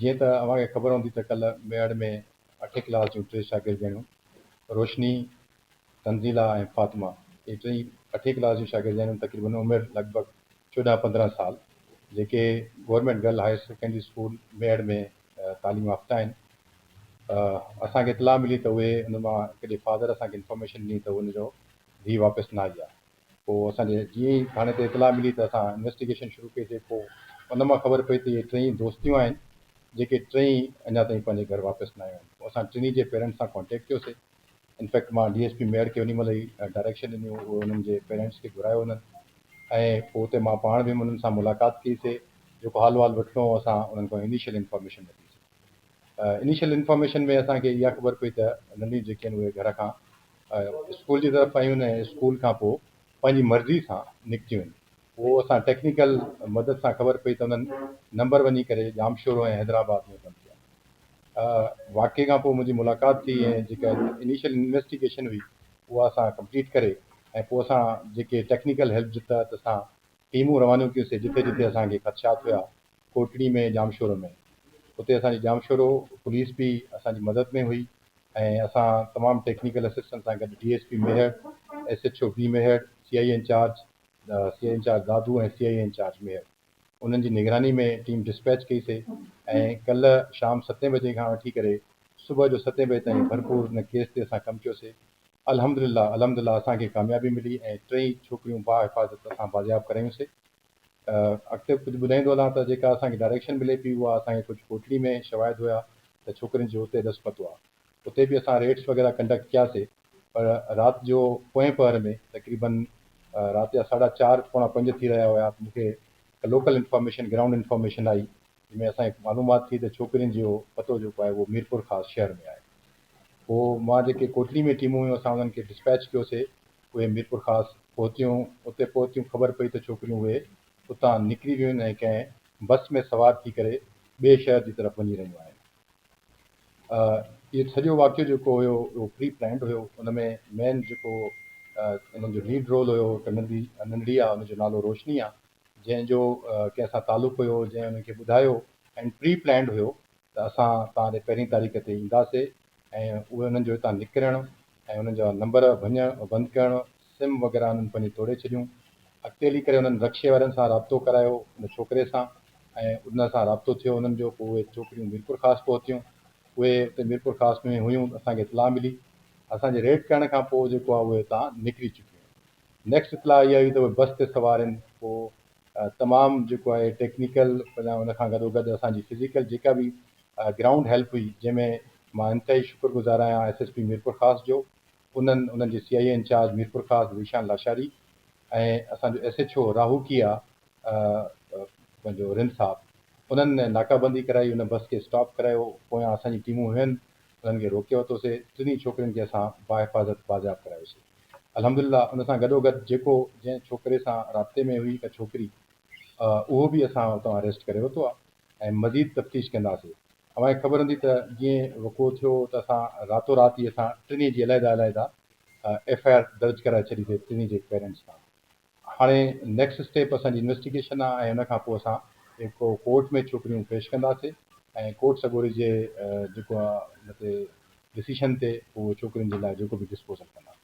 جيئن ته اوهان کي خبر هوندي ته ڪلهه ميهڙ ۾ اٺين ڪلاس جون ٽي شاگردياڻيون روشني، تنزيلا ۽ فاطمه اهي ٽئي اٺين ڪلاس جون شاگردياڻيون تقريبن عمر لڳ ڀڳ چوڏهن پندرهن سال جيڪي government girl higher secondary school Mehar ۾ تعليم يافته آهن اسان کي اطلاع ملي ته اهي ان مان ڪڏهن فادر اسان کي انفارميشن ڏني ته ان جو ڌيء واپس نه آئي آهي. پوء اسان کي جيئن ئي ٿاڻي تي اطلاع ملي ته اسان انويسٽيگيشن شروع ڪئيسي پوء ان مان خبر پئي ته اهي ٽيئي دوستيون آهن جيڪي ٽيئي اڃا تائين پنهنجي گهر واپس نه آيون آهن پوء اسان ٽنهي جي پيرنٽس سان ڪانٽيڪٽ ڪيوسي انفيڪٽ مان ڊي ايس پي ميڙ کي انهي مهل ئي ڊائريڪشن ڏنيون اهي انهن جي پيرنٽس کي گهرايو انهن ۽ پوء اتي مان پاڻ به انهن سان ملاقات ڪئيسي جيڪو حال وحال وٺڻو هو اسان انهن کان انيشل انفارميشن وٺيسي. انيشل انفارميشن ۾ اسان کي اها خبر پئي ته ننيون جيڪي آهن اهي گهر کان اسڪول جي طرف آيون ۽ اسڪول کان پوء پنهنجي مرضي سان نڪتيون آهن اهو اسان ٽيڪنيڪل مدد سان خبر پئي ته انهن نمبر وڃي ڪري ڄامشورو ۽ حيدرآباد ۾ بند ٿيا آهن واقعي کان پوء منهنجي ملاقات ٿي ۽ جيڪا انيشل انويسٽيگيشن هئي اها اسان ڪمپليٽ ڪري ۽ پوء اسان جيڪي ٽيڪنيڪل هيلپ جي تحت اسان ٽيمون روانيون ڪيون سي جتي جتي اسان کي خدشات هيا ڪوٽڙي ۾ ڄامشورو ۾ اتي اسان جي ڄامشورو پوليس به اسان جي مدد ۾ هئي ۽ اسان تمام ٽيڪنيڪل اسسٽنٽ سان گڏ D S P Mehar S H O B Mehar C I A in charge C I in charge Dadu ۽ C I A in charge Mehar انهن جي نگراني ۾ ٽيم ڊسپيچ ڪئي سي ۽ ڪلهه شام ستين بجي کان وٺي ڪري صبح جو ستين بجي تائين ڀرپور ان ڪيس تي اسان ڪم ڪيو سي الحمدلله الحمدلله اسان کي ڪاميابي ملي ۽ ٽئي ڇوڪريون باحفاظت اسان بازياب ڪرايون سي اڳتي ڪجهه ٻڌائيندو هلان ته جيڪا اسان کي ڊائريڪشن ملي پئي اها اسان کي ڪجهه ڪوٽڙي ۾ شواهد هيا ته ڇوڪرين جي اتي ڏس پت هئا اتي به اسان ريڊس وغيره ڪنڊڪٽ ڪياسي پر رات جو پوئين پهر ۾ تقريبن رات جا ساڍا چار پوڻا پنج ٿي رهيا هيا ته مون کي هڪ لوڪل انفارميشن گرائونڊ انفارميشن آئي جنهن ۾ اسان کي معلومات ٿي ته ڇوڪرين جو پتو جيڪو آهي اهو ميرپور خاص شهر ۾ آهي پوء مان جيڪي ڪوٽڙي ۾ ٽيمون هيون اسان انهن کي ڊسپيچ ڪيوسي اهي ميرپورخاص پهتيون، اتي پهتيون خبر پئي ته ڇوڪريون اهي اتان نڪري ويون آهن ۽ ڪنهن بس ۾ سوار ٿي ڪري ٻئي شهر جي طرف وڃي رهيون آهن. اهو سڄو واقعو جيڪو هيو اهو پري پلانڊ هيو ان ۾ مين جيڪو انهن جو ليڊ رول هيو هڪ ننڍي ننڍڙي آهي ان جو نالو روشني آهي جنهن جو ڪنهن سان تعلق هيو جنهن انهن کي ٻڌايو ۽ پري پلانڊ هيو. ته اسان توهان ڏي پهرين تاريخ تي اينداسي ۽ اهي انهن جو هتان نڪرڻ ۽ انهن جا نمبر ڀڃڻ بند ڪرڻ، سم وغيره انهن پنهنجي توڙي ڇڏيون. اڳتي هلي ڪري انهن رڪشي وارن سان رابطو ڪرايو ان ڇوڪري سان ۽ ان سان رابطو ٿيو انهن جو پوء اهي ڇوڪريون ميرپورخاص پهتيون اهي اتي ميرپورخاص ۾ هيون اسان کي اطلاع ملي اسان جي ريڊ ڪرڻ کان پوء جيڪو آهي اهي هتان نڪري چڪيون نيڪسٽ اطلاع اها هئي ته اهي بس تي سوار آهن پوء تمام جيڪو آهي ٽيڪنيڪل پنهنجا ان کان گڏو گڏ اسان جي فزيڪل جيڪا به گرائونڊ هيلپ هئي جنهن ۾ مان انتهائي شڪر گذار آهيان ايس ايس پي ميرپورخاص جو انهن انهن جي C I A incharge Mirpurkhas Zeeshan Lashari ۽ اسان جو ايس ايڇ او راهوڪيا پنهنجو رند صاحب انهن ناڪابندي ڪرائي ان بس کي اسٽاپ ڪرايو پويان اسان جي ٽيمون هين انهن کي روڪي ورتوسي، ٽنهي ڇوڪرين کي اسان باحفاظت بازياب ڪرايوسي. الحمدلله ان سان گڏوگڏ جيڪو جنهن ڇوڪري سان رابطي ۾ هئي هڪ ڇوڪري اهو به اسان اتان اريسٽ ڪري ورتو آهي ۽ مزيد تفتيش ڪنداسي. اوهان کي خبر هوندي ته جيئن وقعو ٿيو ته اسان راتو رات ئي اسان ٽنهي جي عليحده عليحده ايف آء آر درج ڪرائي ڇڏي سي ٽنهي جي پيرنٽس سان. هاڻي نيڪسٽ اسٽيپ اسان جي انويسٽيگيشن آ ۽ ان کان پوء اسان جيڪو ڪورٽ ۾ ڇوڪريون پيش ڪنداسي ۽ ڪورٽ سڳوري جي جيڪو آ ان تي ڊسيشن تي پوء ڇوڪرين جي لاء جيڪو به ڊسپوزل ڪنداسي.